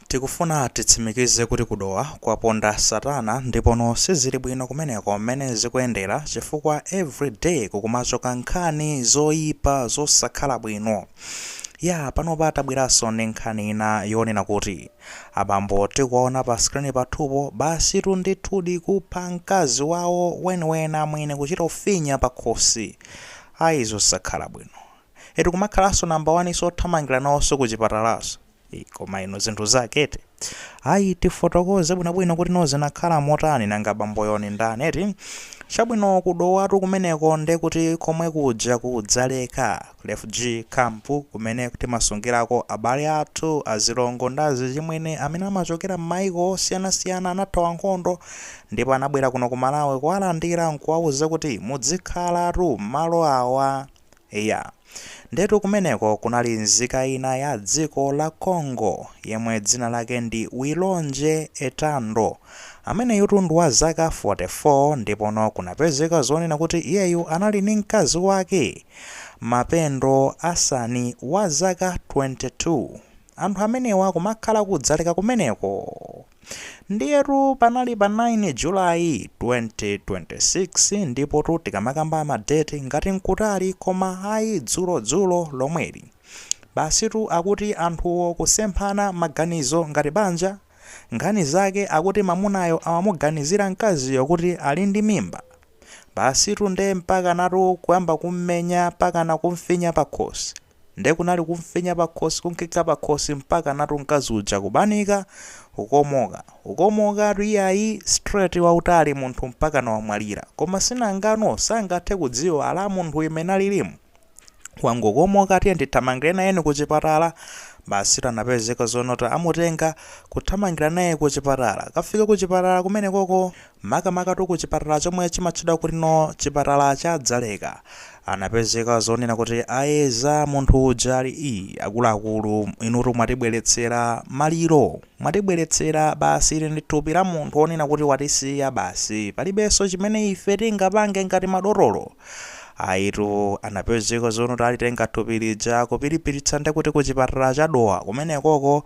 Tikufuna titsimikize kuti ku Dowa kwaponda satana ndipono sizilibwino kumeneko mmene zikuyendera chifukwa every day kukumachitika nkhani zoyipa zosakhala bwino. Yaa panopa tabweraso ndi nkhani ina yonena kuti abambo tikuwaona pa screen pathupo basitu ndithudi kupha mkazi wawo weniweni amwene kuchita kufinya pakhosi ayi zosakhala bwino. Eti kumakhalaso number 1 so kuthamangila nawoso ku chipatalaso. Ii, koma inu zinthu zake eti ayi tifotokoze bwinobwino kuti no zinakhala motani nanga bamboyo ni ndani eti chabwino ku Dowatu kumeneko nde kuti komwe kuja ku Dzaleka refugee camp kumene timasungirako abale athu azilongo ndi azichimwene amene amachokera m'mayiko osiyanasiyana anathawa nkhondo ndipo anabwera kuno ku Malawi kuwalandira nkuwauza kuti mudzikhalatu m'malo awa Eya. Ndiyetu kumeneko kunali nzika ina ya dziko la Congo yemwe dzina lake ndi Wilonje Etando. Ameneyutu ndi wa zaka 44 ndipono kunapezeka zonena kuti iyeyu anali ndi mkazi wake, Mapendo Asani wa zaka 22. Anthu amenewa kumakhala ku Dzaleka kumeneko. Ndiyetu panali pa 9 July 2026 ndipotu tikamakamba ma date ngati nkutali koma ayi dzulo dzulo lomweli basitu akuti anthuwo kusemphana maganizo ngati banja nkhani zake akuti mamunayo amamuganizira mkaziyo kuti ali ndi mimba basitu nde mpakanatu kuyamba kummenya mpakana kumfinya pakhosi Nde kunali kumfinya pakhosi kunkikha pakhosi mpakanatu mkazi uja kubanika, kukomoka. Kukomokatu iyayi straight wautali munthu mpakana wamwalira. Koma si nanga no sangathe kudziwa ala munthu uyu mmene alilimu wangokomoka tiyeni tithamangire naye kuchipatala. Basitu anapezeka zonena kuti amutenga kuthamangira naye kuchipatala. Kukafika kuchipatala kumenekoko. makamakatu ku chipatala chomwe chimatchedwa kuti no chipatala cha Dzaleka, anapezeka zonena kuti ayeza munthu uja ali ii akuluakulu inutu mwatibweretsera maliro, mwatibweretsera basi ili ndi thupi la munthu onena kuti watisiya basi palibenso chimene ife tingapange ngati madotolo. Ayitu anapezeka zonena kuti alitenga thupi lija kupiripititsa ndekuti ku chipatala cha Dowa kumenekoko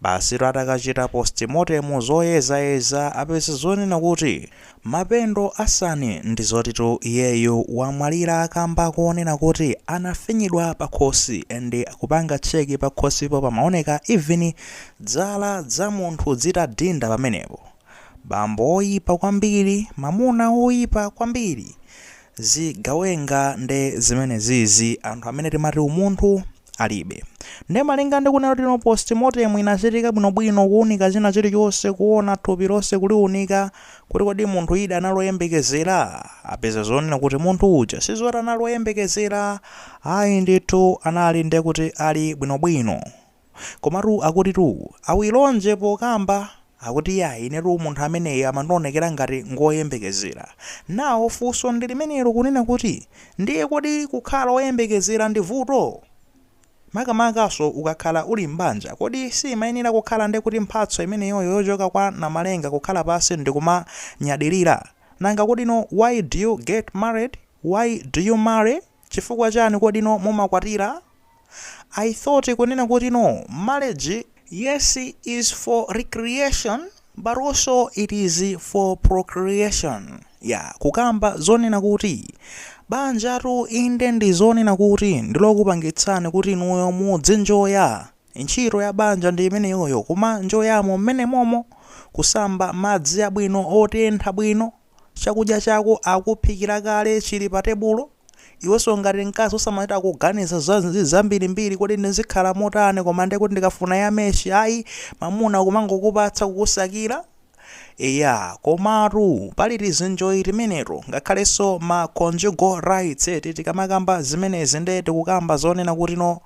Basitu atakachita postmortem, zoyezayeza, apeza zonena kuti Mapendo Asani ndi zotitu iyeyu wamwalira kamba konena kuti anafinyidwa pakhosi and kupanga check pakhosipo pamaoneka even zala za munthu zitadinda pamenepo. Bambo oyipa kwambiri, mamuna oyipa kwambiri. Zigawenga nde zimenezizi, anthu amene timati umunthu. alibe. Nde malinga ndi kunena kutino post mortem inachitika bwinobwino kuunika china chilichonse kuona thupi lonse kuliunika kuti kodi munthu idi anali oyembekezera apeza zoona kunena kuti munthu uja sizoti anali oyembekezera ayi ndithu anali ndekuti ali bwinobwino. Komatu akutitu awilonje pokamba Akuti yayi inetu munthu ameneyu amandionekera ngati ngoyembekezera. Now funso ndi limenelo kunena kuti ndiye kodi kukhala oyembekezera ndi vuto? Makamakanso ukakhala uli m'banja kodi siyimayenera kukhala nde kuti mphatso imeneyoyo yochoka kwa Namalenga kukhala pansi ndikumanyadilira? Nanga kodino why do you get married? Why do you marry? Chifukwa chani kodino mumakwatira? I thought kunena kutino, marriage, yes is for recreation but also it is for procreation yeah, kukamba zonena kuti banjatu inde ndi zonena kuti ndilokupangitsani kuti inuyo muzinjoya ntchito ya banja ndi imeneyoyo kumanjoyamo mmene momo kusamba madzi abwino otentha bwino Chakudya chako akuphikira kale chili pa tebulo? Iwenso ngati mkazi usamachita kuganiza zambirimbiri kodi ndizikhala motani koma ndiye kuti ndikafuna ya meshi ayi mamuna kumangokupatsa kukusakira? Eya, komatu pali tizinjoyi timeneto ngakhalenso ma conjugal rights eti tikamakamba zimenezi nde tikukamba zonena kutino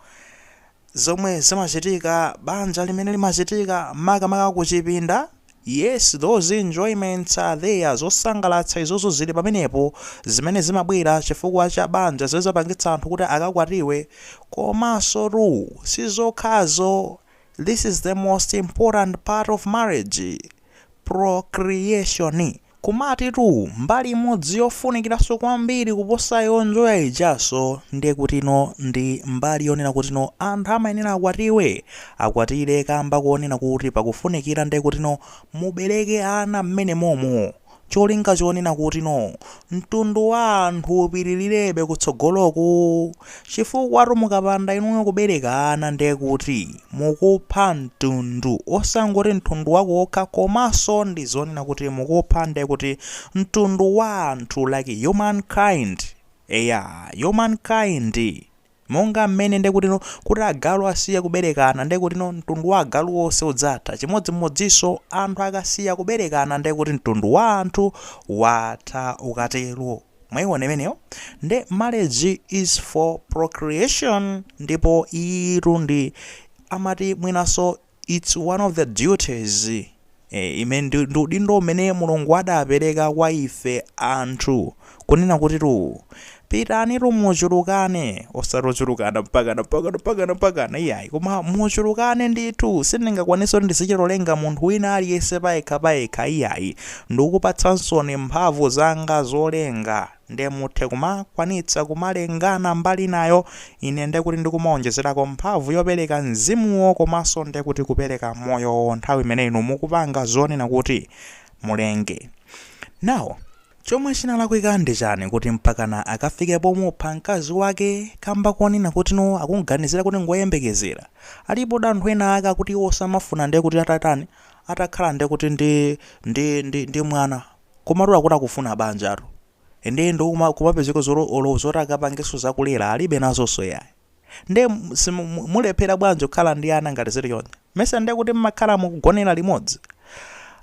zomwe zimachitika banja limene limachitika makamaka kuchipinda Yes, those enjoyments are there, zosangalatsa izozo zili pamenepo zimene zimabwera chifukwa cha banja zizapangitsa anthu kuti akakwatiwe komansotu sizokhazo this is the most important part of marriage procreation. Komatitu mbali imodzi yofunikiranso kwambiri kuposa yonjoya ijanso ndiye kutino ndi mbali yonena kutino anthu amayenera akwatiwe, akwatire kamba koonena kuti pakufunikira ndiye kutino mubereke ana m'menemomo. cholinga chonena kutino mtundu wa anthu upirilirebe kutsogoloku chifukwatu mukapanda inuyo kubereka ana ndekuti mukupha mtundu osangoti mtundu wako wokha komanso ndizonena kuti mukupha ndekuti mtundu wa anthu like human kind eya human kind Monga mmene ndi kutino kuti agalu asiye kuberekana ndi kutino mtundu wa agalu wonse udzatha, chimodzimodzinso anthu akasiya kuberekana ndi kuti mtundu wa anthu watha ukatero. Mwaiona imeneyo? Nde marriage is for procreation ndipo iyitu ndi amati mwinanso Its one of the duties imene ndi ndi udindo umene Mulungu adapereka kwa ife anthu kunena kutitu pitanitu muchulukane osati ochulukana mpakana mpakana mpakana mpakana iyayi koma muchulukane ndithu sindingakwanitsa kuti ndizichitolenga munthu wina aliyense payekha payekha iyayi ndikupatsaninso mphamvu zanga zolenga nde muthe kumakwanitsa kumalengana mbali inayo ine ndekuti ndikumaonjezerako mphamvu yopereka mzimuwo komanso ndekuti kupereka moyowo nthawi imene inu mukupanga zonena kuti mulenge now chomwe chinalakwika ndi chani kuti mpakana akafike pomupha mkazi wake kamba konena kuti no akuganizira kuti ngoyembekezera alipodi anthu ena ake akuti iwo samafuna ndekuti atatani atakhala ndekuti ndi ndi ndi ndi mwana Komatu akuti akufuna banjatu ndiye ndo kuma, kumapezeka zolo olo zoti akapangenso zakulera alibe nazonso yayi nde m- simu- mu- mulephera bwanji kukhala ndi ana ngati zili choncho mesa ndiye kuti mmakhala mukugonera limodzi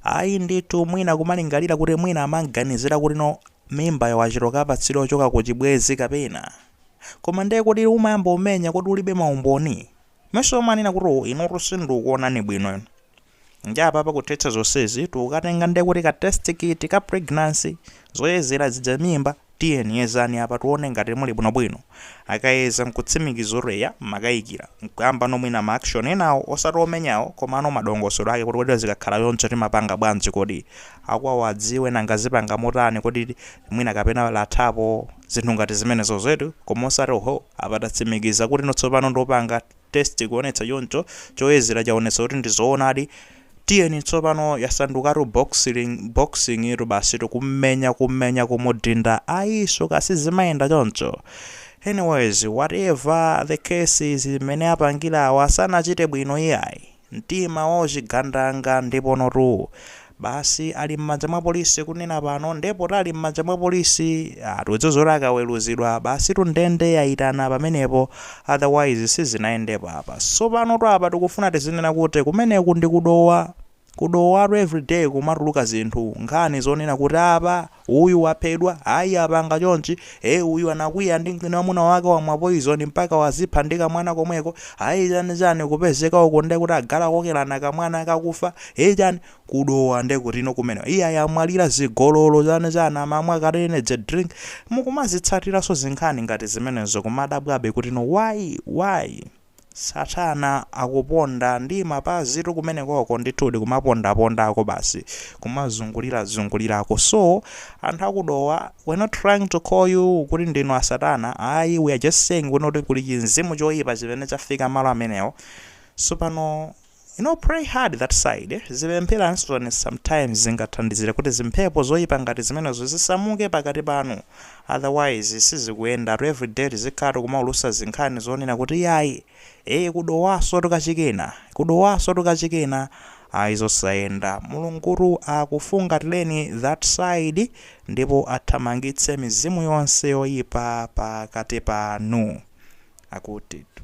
ayi ndithu mwina kumalingalira kuti mwina amamuganizira kuti no mimbayo wachitoka apatsidwa yochoka ku chibwezi kapena koma ndiye kuti umayamba umenya kodi ulibe maumboni Mesa umanena kuti uwu inutu sindikukuonani bwino inu. Ndiye apapa kuthetsa zonsezi tikatenga ndiye kuti ka test kit ka pregnancy, zoyezera zija mimba, tiyeni yezani apa tione ngati muli bwinobwino. Akayeza nkutsimikiza kuti eya mmakaikira, nkuyambano mwina ma action enawo osati omenyawo komano madongosolo ake kuti kodi zikakhala choncho timapanga bwanji kodi akwawo adziwe nanga azipanga motani kodi mwina kapena lathapo zinthu ngati zimenezozo eti koma osati oho apa tatsimikiza kutino tsopano ndopanga test kuonetsa choncho choyezera chaonetsa kuti ndi zoonadi tiyeni tsopano yasandukatu boxing itu basi tikummenya kummenya kumudinda ayiso kodi zimayenda choncho anyways whatever the case is mmene apangira awa sanachite bwino iyayi mtima wa chigandanga ndiponotu basi ali m'manja mwa police kunena pano nde poti ali m'manja mwa police ah tikudziwa zoti akaweluzidwa basitu ndende yaitana pamenepo otherwise sizinayendepo apa sopanotu apa tikufuna tizinena kuti kumeneku ndi ku dowa ku dowatu everyday kumatuluka zinthu nkhani zonena kuti apa Uyu waphedwa, ayi apanga chonchi, ee uyu anakwiya ndi ndi mamuna wake wamwa poison mpaka wazipha ndi kamwana komweko, ayi chani chani kupezeka uko ndekuti agalu akokelana kamwana kakufa, ee chani, ku Dowa ndekutino kumeneko, iyayi amwalira zigololo chani chani amamwa kale energy drink, mukumazitsatiranso zinkhani ngati zimenezo kumadabwabe kutino why? why? Satana akuponda ndi mapazitu kumenekoko, ndithudi kumapondapondako basi, kumazungulirazungulirako. So, anthu a ku Dowa, we're not trying to call you kuti ndinu a Satana, ayi, we are just saying kunoko kuti kuli chimzimu choipa chimene chafika malo amenewo. Tsopano. You know pray hard that side, zipempheranso nanu sometimes zingathandizire kuti zimphepo zoipa ngati zimenezo zisamuke pakati panu otherwise sizikuyendatu everyday tizikhala tikumaulusa zinkhani zonena kuti iyayi ee ku Dowasotu kwachikena ku Dowasotu kwachikena ayi zosayenda Mulungutu akufungatireni that side ndipo athamangitse mizimu yonse yoyipa pakati panu akutitu